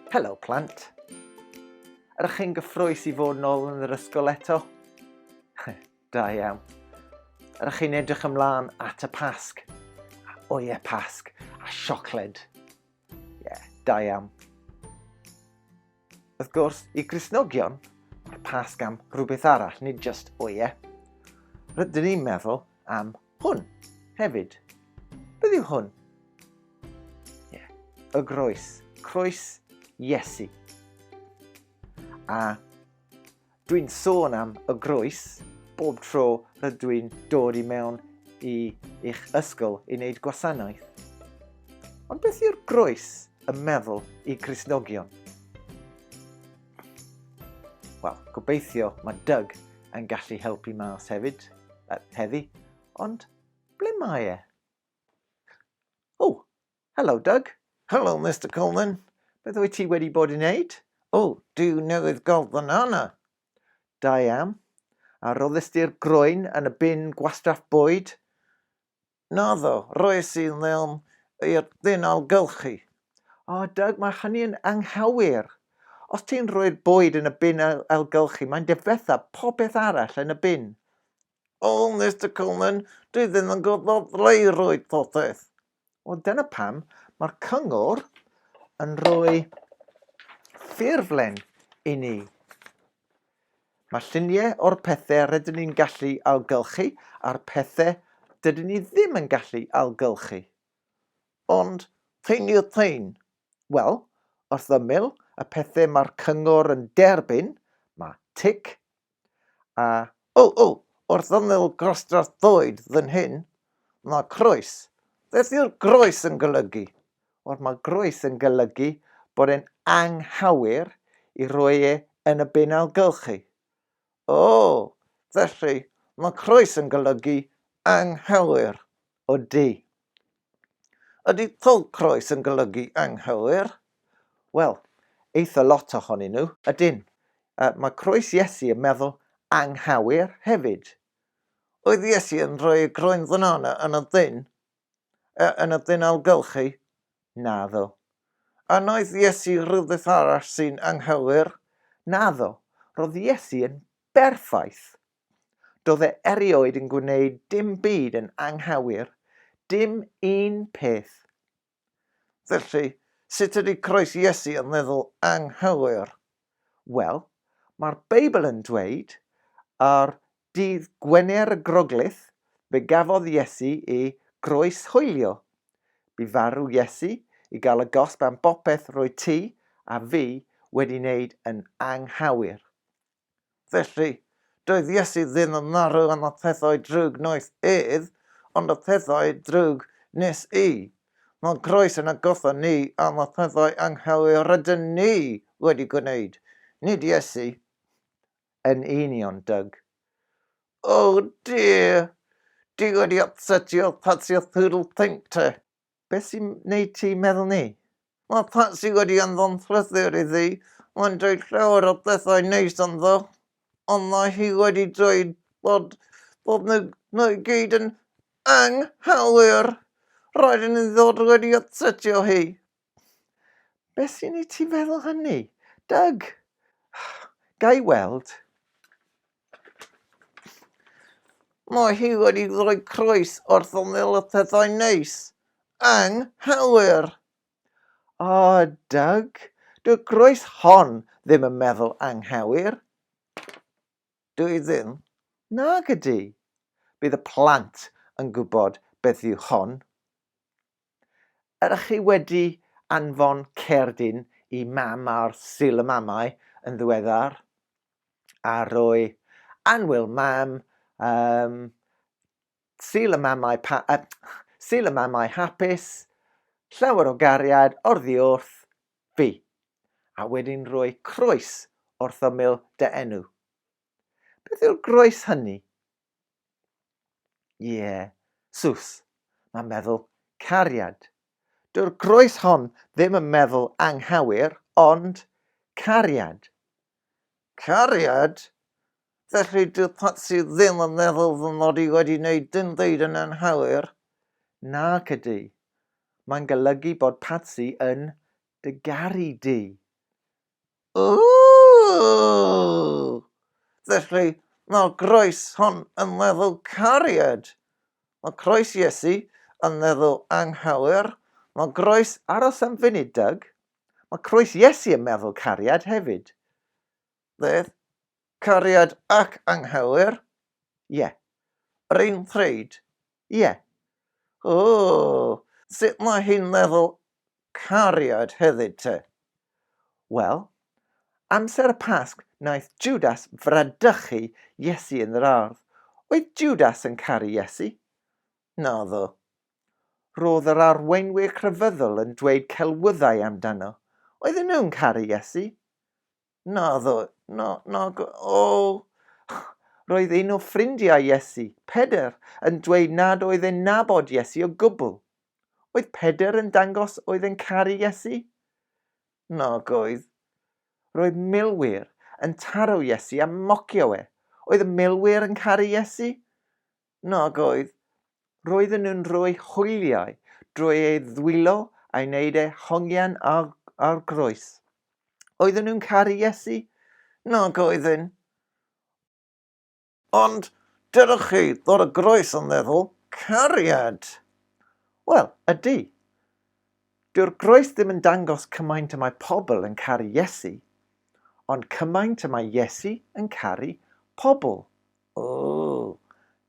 Helo plant. Ydych chi'n gyffroes i fod nôl yn yr ysgol eto? da iawn. Ydych chi'n edrych ymlaen at y pasg? O ie, pasg. A siocled. Ie, yeah, da iawn. Wrth gwrs, i Gristnogion, mae'r Pasg am rhywbeth arall, nid just o ie. Rydyn ni'n meddwl am hwn hefyd. Beth yw hwn? Ie, yeah. y groes, croes Iesu. A Dwi'n sôn am y groes bob tro rydw i'n dod i mewn i eich ysgol i wneud gwasanaeth. Ond beth yw'r groes yn meddwl i Grisnogion? Wel, gobeithio mae Doug yn gallu helpu mas hefyd, uh, heddi, ond ble mae e? O, Helo, Doug. Helo, Mister Coleman. Beth wyt ti wedi bod i wneud? O, Duw newydd golff yn arno! Da iawn. A roddys di'r groen yn y bin gwastraff bwyd? Naddo, roes i ddim i'r ddynol gylchu. O, Doug, mae hynny yn anghywir. Os ti'n rhoi'r bwyd yn y bin ailgylchu, mae'n difetha popeth arall yn y bin. O, Mister Coleman, dwi ddim yn gwybod ble i roi popeth. Wel, dyna pam mae'r cyngor yn rhoi ffurflen i ni. Mae lluniau o'r pethau rydyn ni'n gallu ailgylchu a'r pethau dydyn ni ddim yn gallu ailgylchu. Ond thyn i'r thyn. Wel, wrth ymyl y pethau mae'r cyngor yn derbyn, mae tic a O! O! Wrth ymyl grostrath bywyd fan hyn, mae croes. Beth yw'r groes yn golygu? Wel, mae groes yn golygu bod e'n anghywir i roi e yn y bin ailgylchu. O! Felly, mae croes yn golygu anghywir. O du. Ydy Thug Croes yn golygu anghywir? Wel, eitha lot ohonyn nhw. Ydyn. A mae croes Iesu yn meddwl anghywir hefyd. Oedd Iesu yn rhoi y groen ddynana yn y ddyn? E, yn y ddyn ailgylchu? Naddo. A wnaeth Iesu rhywbeth arall sy'n anghywir? Naddo. Roedd Iesu yn berffaith. Doedd e erioed yn gwneud dim byd yn anghywir, dim un peth. Felly, sut ydy croes Iesu yn meddwl anghywir? Wel, mae'r Beibl yn dweud, ar dydd Gwener y Groglith, fe gafodd Iesu ei groes hoelio. Bu farw Iesu i gael y gosb am bopeth roedd ti a fi wedi wneud yn anghywir. Felly, doedd Iesu ddim yn marw am y pethau drwg wnaeth ef, ond y pethau drwg wnes i. Mae groes yn atgoffa ni am y pethau anghywir rydyn ni wedi gwneud, nid Iesu yn union, Doug. Oh dear! Ti wedi ypsetio Patsy a Phoodle Pink te. Beth sy'n wneud ti meddwl 'ny? Mae Patsy wedi anfon llythyr iddi, mae'n dweud llawer o bethau neis ynddo, ond mae hi wedi dweud bod, bod nhw, nhw i gyd yn anghywir. Rhaid i ni ddod wedi atsetio hi. Beth sy'n i ti feddwl hynny? Doug! Ga i weld? Mae hi wedi rhoi croes wrth ymyl y pethau neis. Anghywir! O, Doug, dyw croes hon ddim yn meddwl anghywir. Dw i ddim. Nag ydy. Bydd y plant yn gwybod beth yw hon. Ydych chi wedi anfon cerdyn i Mam ar Sul y Mamau yn ddiweddar? A rwy yn Wil Mam um, Sul y Mamau, pa, uh, Sul y Mamau hapus, llawer o gariad orddi wrth fi, a wedyn rwy croes wrth ymyl dy enw. Beth yw'r groes hynny? Ie, yeah. Sus, mae'n meddwl cariad. Dyw'r groes hon ddim yn meddwl anghywir, ond cariad. Cariad? Felly dyw Patsy ddim yn meddwl fy mod i wedi wneud dim byd yn anghywir? Na, Cydŷ. Mae'n golygu bod Patsy yn dy garu di. Ooh! Felly, mae'r groes hon yn meddwl cariad. Mae croes Iesu yn meddwl anghywir. Mae groes aros am funud, Doug. Mae croes Iesu yn meddwl cariad hefyd. Beth? Cariad ac anghywir? Ie. Yr un pryd? Ie. Ooh! Sut mae hi'n meddwl cariad hefyd te? Wel, amser y Pasg wnaeth Jwdas fradychu Iesu yn yr ardd. Oedd Jwdas yn caru Iesu? Naddo. Roedd yr arweinwyr crefyddol yn dweud celwyddau amdano. Oedden nhw'n caru Iesu? Naddo, na, nag o. Roedd un o ffrindiau Iesu, Pedr, yn dweud nad oedd e'n nabod Iesu o gwbl. Oedd Pedr yn dangos oedd e'n caru Iesu? Nag oedd. Roedd milwyr yn taro Iesu a mocio e. Oedd y milwyr yn caru Iesu? Nag oedd. Roedden nhw'n rhoi hwyliau drwy ei ddwylo a'i wneud ei hongian ar, ar groes. Oedden nhw'n caru Iesu? Nag oedden. Ond dydych chi ddod o groes yn meddwl, cariad! Wel, ydy. Dyw'r groes ddim yn dangos cymaint y mae pobl yn caru Iesu, ond cymaint y mae Iesu yn caru pobl. Ooh!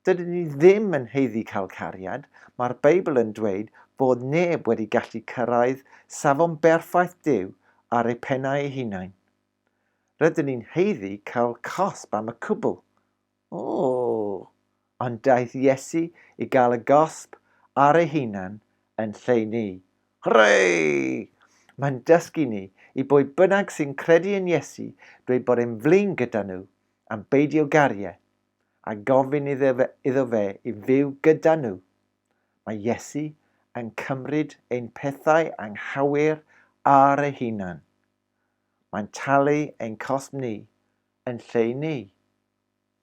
Dydyn ni ddim yn haeddu cael cariad, mae'r Beibl yn dweud bod neb wedi gallu cyrraedd safon berffaith Duw ar eu pennau eu hunain. Rydyn ni'n haeddu cael cosb am y cwbl. Ooh! Ond daeth Iesu i gael y gosb ar ei hunan yn lle ni. Hwrê! Mae'n dysgu ni i bwy bynnag sy'n credu yn Iesu dweud bod e'n flin gyda nhw, am beidio gario a gofyn iddo fe i fyw gyda nhw. Mae Iesu yn cymryd ein pethau anghywir ar ei hunan. Mae'n talu ein cosb ni yn lle i ni.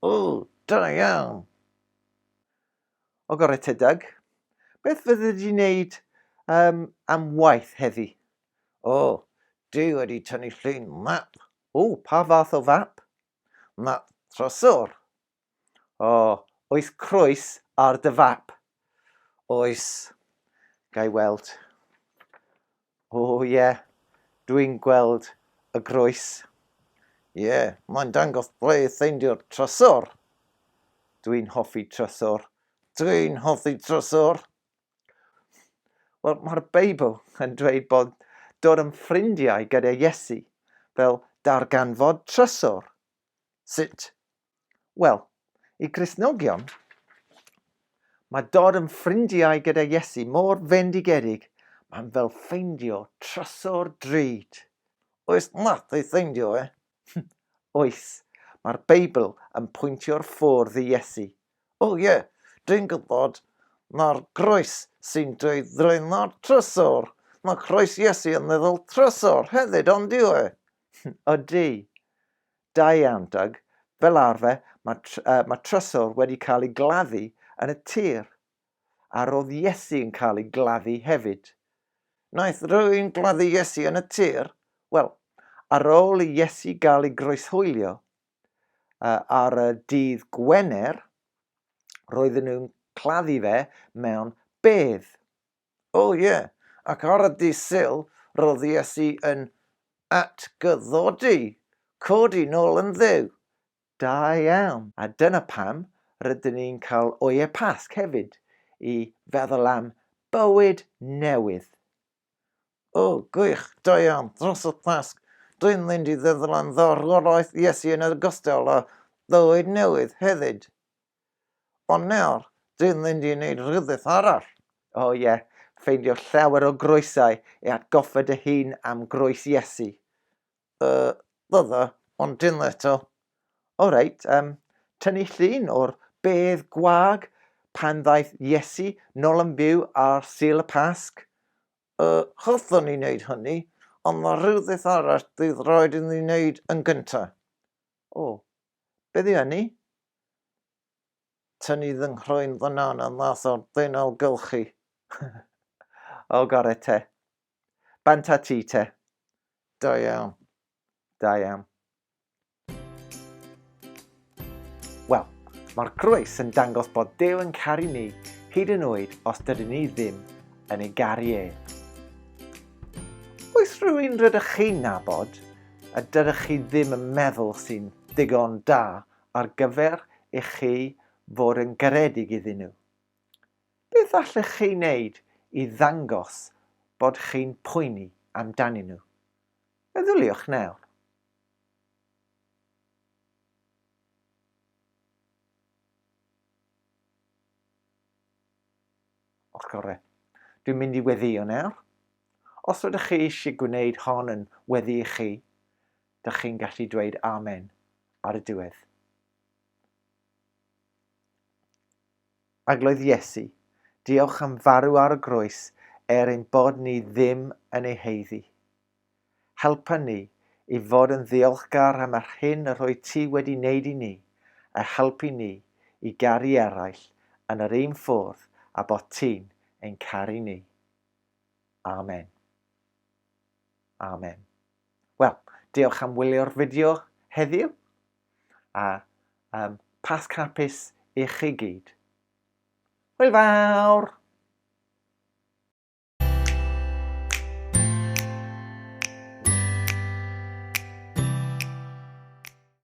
O, da iawn! O gorau te, Doug. Beth fydde di wneud um, am waith heddi? O, dwi wedi tynnu llun map O, pa fath o fap? Na, trysor. O, oes croes ar dy fap? Oes. Gai weld. O, ie. Yeah. Dwi'n gweld y groes. Ie, yeah, mae'n dangos ble i ffeindio'r trysor. Dwi'n hoffi trysor. Dwi'n hoffi trysor. Wel, mae'r Beibl yn dweud bod dod yn ffrindiau gyda Iesu fel darganfod trysor. Sut? Wel, i Gristnogion, mae dod yn ffrindiau gyda Iesu mor fendigedig, mae'n fel ffeindio trysor drud. Oes nath ei ffeindio e? Oes, mae'r Beibl yn pwyntio'r ffordd i Iesu. O ie, dwi'n gwybod, mae'r groes sy'n dweud draena'r trysor, mae croes Iesu yn meddwl trysor hefyd, ond yw e? Ydy. Da iawn, Doug. Fel arfer, mae, tr uh, mae trysor wedi cael ei gladdu yn y tir. a roedd Iesu yn cael ei gladdu hefyd. Wnaeth rhywun gladdu Iesu yn y tir? Wel, ar ôl i Iesu gael ei groeshoelio ar y dydd Gwener, roedden nhw'n claddu fe mewn bedd. O oh, ie, yeah. ac ar y dydd syl, roedd Iesu yn atgyddodi, codi nôl yn ddew. Da iawn! A dyna pam rydyn ni'n cael Oye Pasg hefyd, i feddwl am bywyd newydd. O, gwych, da iawn, dros y Pasg, dwi'n mynd i feddwl am farwolaeth Iesu yn ogystal â bywyd newydd hefyd. Ond nawr, dwi'n mynd i wneud rhywbeth arall. O ie, ffeindio llawer o groesau i atgoffa dy hun am groes Iesu. y ddodd o, ond dim eto. O reit, um, tynnu llun o'r bedd gwag pan ddaeth Iesu nol yn byw ar Sul y Pasg. Y hoffwn ni wneud hynny, ond mae rhywbeth arall fydd rhaid i ni wneud yn gyntaf. O, beth yw hynny? Tynnu fy nghroen fanana mas o'r ddeunaw gylchu. o, gore te. Bant a ti te. Da iawn. Da iawn. Wel, mae'r groes yn dangos bod Dew yn caru ni hyd yn oed os dydyn ni ddim yn ei garu e. Oes rhywun rydych chi'n nabod a dydych chi ddim yn meddwl sy'n ddigon da ar gyfer i chi fod yn garedig iddyn nhw? Beth allech chi wneud i ddangos bod chi'n poeni amdanyn nhw? Meddyliwch nawr. Os gorau. Dwi'n mynd i weddio nawr. Os ydych chi eisiau gwneud hon yn weddi i chi, dych chi'n gallu dweud amen ar y diwedd. Arglwydd Iesu, diolch am farw ar y groes er ein bod ni ddim yn ei haeddu. Helpa ni i fod yn ddiolchgar am yr hyn y rhoi ti wedi wneud i ni, a helpu ni i garu eraill yn yr un ffwrdd a bod ti'n ein caru ni. Amen. Amen. Wel, diolch am wylio'r fideo heddiw. A um, Pasg hapus i chi gyd. Hwyl fawr!